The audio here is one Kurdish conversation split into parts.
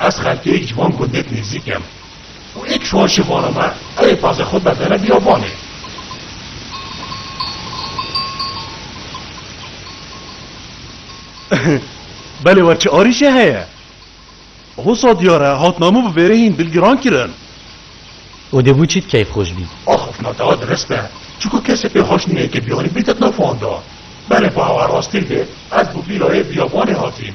Ez xelkê ji van gundek nêzîk em û êkiş wan şê vana me, ew ê pazê xwe berdene biyavanê. Belê we çi arîşê heye? Hosa diyar e, hatname bi vêrehîn dil giran kirin. Û dibû çit keyfxweş bî. Ax ax na dewet rist e, çiku kesê pê xweş nîne ke biyanî bîte di nav wan de. Belê bi awe rastî bê, ez bi vîrayê biyavanê hatîm.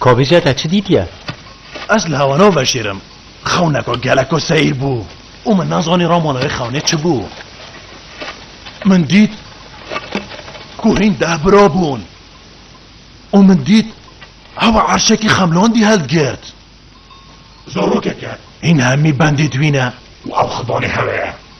Kovije te çi dîtiye? Ez li hewa naveşêrim. Xewneka geleko seyîr bû û min nezanî ramona wê xewnê çi bû. Min dît ku hîn deh bira bûn û min dît hewa erşekî xemlandî hildigirt. Zarokeke hîn hemî bendê dwîne û ew xidanê hewe ye.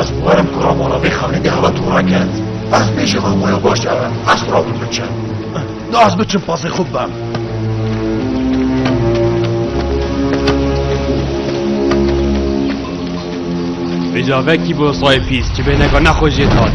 Ez werim ku ramala vê xanînê heve tora kerd. Ez bêjê van waya baş ere. Ez xura tu biçe. Da ez biçim pazê xwe bibem. Bêcavekî bo sayê pîs çi bêneka nexwe jê dad.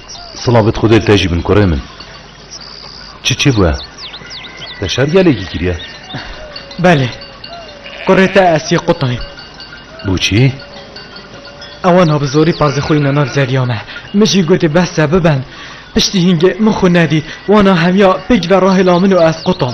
Silav bit xwedê li te jî bin kurê min. Çi çi bûye? Te şer gelekî kiriye? Belê. Kurê te Esiyê Qutayî. Bûçî? Ew aniha bi zorî pazê xwe îna nav zeriya me. Min jî gotî bes e biben. Piştî hîngê min xwe nedît. Wana hemiya pêk ve rahêla min û ez qutam.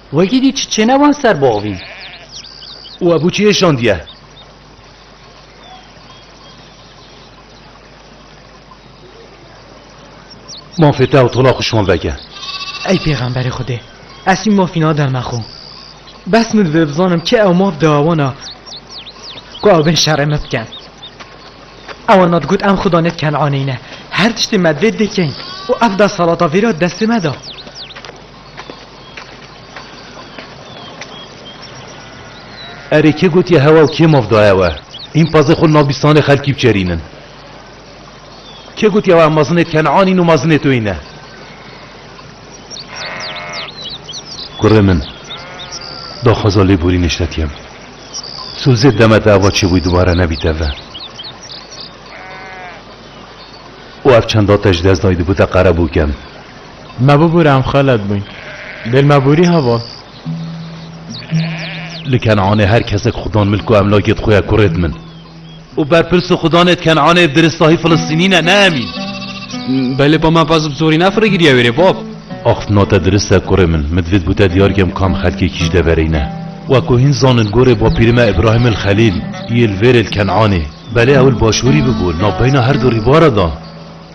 Wekî dît çi çêne wan ser boxvîn. Û ebû çiyê şandiye. Mafê te ew tola xwe şand veke. Ey pêxemberê Xwedê, ez çi mafî nadim me xwe. Bes min divê bizanim kê ew maf da wan a ku ew bên şerê me bikin. Ewan me digot em xudanê Kenanî ne. Her tiştê me divê dê kein. Û ev desthilata vêra di destê me da. Erê kê gotiye hewa û kê maf daye we? Hîn pazê xwe li nav bîstanê xelkî biçerînin. Kê gotiye we em mazinê Ken'an în û mazinê to îne? Kurê min, daxwaza lêborî neştetiyem. Sû zêd demete eva çêbûyî dubare nebîte ve. Û ev çend date ji dest dayî dibûte qerebûk em. Me bibûre em xelet bûyn. Dêl me bûrî heval. Li Kenanê her kesek xudan min ku emlakê di xwe ye kurê di min. Û berpirs û xudanê di Kenanê bi diristahî Filistînî ne, ne em în. Belê bab me baz bi zorî ne firegiriya wê rê bab. Ax na te dirist e kurê min. Min divêt bû te diyar kem kam xelkekî ji deverê ne. Wek ku hîn zanin gorê bapîrê me Îbrahîm il Xelîl yê li vêrê li Kenanê. Belê ew li başûrî bûbû, navbeyna her du rîbara da.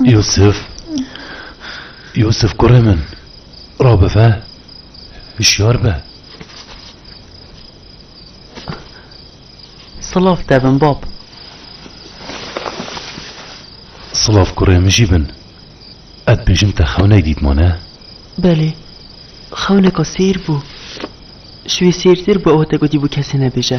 Yûsif, Yûsif kurê min, rabive, hişyar be. Silav te bin bab. Silav kurê min jî bin. Ez bêjim te xewnek dîtmane? Belê. Xewneka sêr bû. Ji wê sêrtir bi ew te gotîbû kesê nebêje.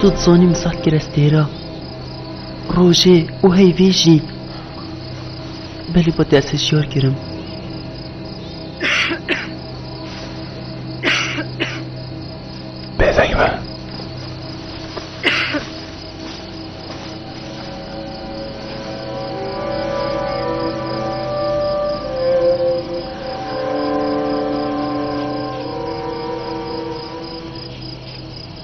Tu dizanî min seh kire stêra. Rojê û heyvê jî. Belê ba te ez hişyar kirim. Bêdeng be.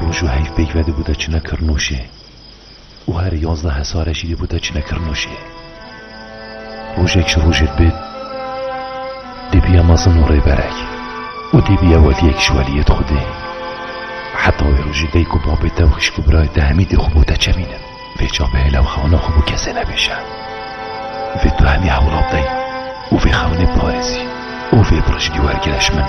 Roj û heyv peyv ve dibûte çine Kirnûşê û her yazdeh hesare jî dibûte çine Kirnûşê. Rojek ji rojê dibêt dêbiye mezin û rêberek û dêbiye weliyek ji weliyê di xwedê. Heta wê rojê dayik û babê te û xişk û birayê te hemî dê xwe bo te çemînin. Vê çavê hêle û xewna xwe bo kesê nebêje. Vê tu hemî hewla bidey û vê xewnê biparêzî û vê bi rijkî wergire ji min.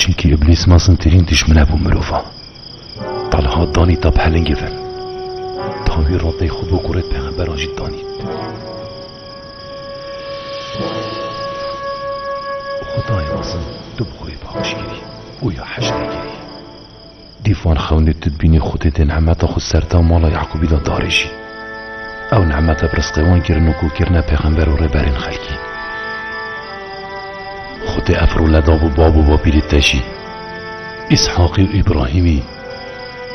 Çimkî îblîs mezintirîn dîjmine bo mirovan. Taliha danî ta pelingê vin. Tawî radeyê xwe bo kurê pêxemberan jî danî. Xwedayê mezin tu bi xwe yê bexşîş kirî û ya heştê kirî. Dîf wan xewnê tu dibînî Xwedê dê nehmeta xwe serta mala Yaqûbî de darêjî. Ew nehmete bi risqê wan kirin û ku kirine pêxember û rêberên xelkî. Xwedê ev role dabû bab û bapîrê te jî, Îshaqî û Îbrahîmî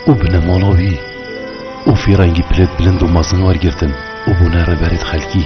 û binêmala wî û fîrengî pilêt bilind û mezin wergirtin û bûne rêberên xelkî.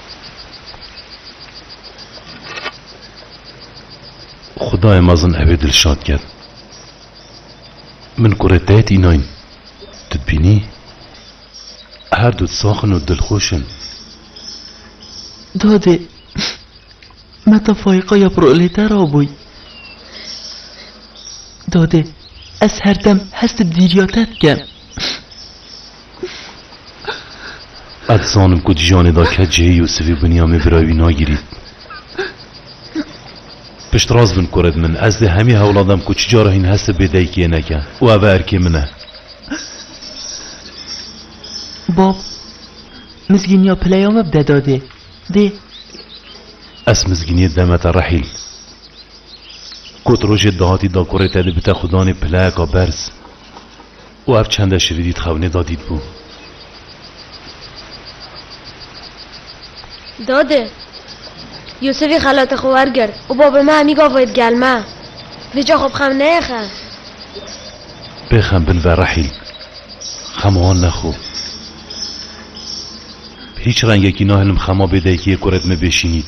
Xudayê mezin ew ê dilşad ket. Min kurê te yê tînayn. Tu dibînî? Her du sax in û dilxweş in. Dadê, me ta Faîqa ya proleter a bûy. Dadê, ez her dem hest bi dîriya te dikim. Ez dizanim ku di jiyanê de ke cihê Yûsifî û Binyamê birayê wî nagirî. Piştrast bin kore bi min. Ez dê hemî hewla dem ku çicara hîn hestê bê daykiyê neke û ev e erkê min e. Bab, mizgîniya pileya me bide dadê. Dê. Ez mizgîniyê demete rehîl. Kot rojê dahatî dakorê te dê bite xwe danê pileyeka berz. Û ev çende şirîdî di xewnê da dîtbû. Dade! Yûsifî xelata xwe wergirt û Babê me hemî gavayê digel me. Vê ca xwe bi xem neyexe. Bê xem bin ve Rehîl. Xema wan nexwe. Bi hîç rengekî nahilim xema bê daykî yê kurê di me bê şînît.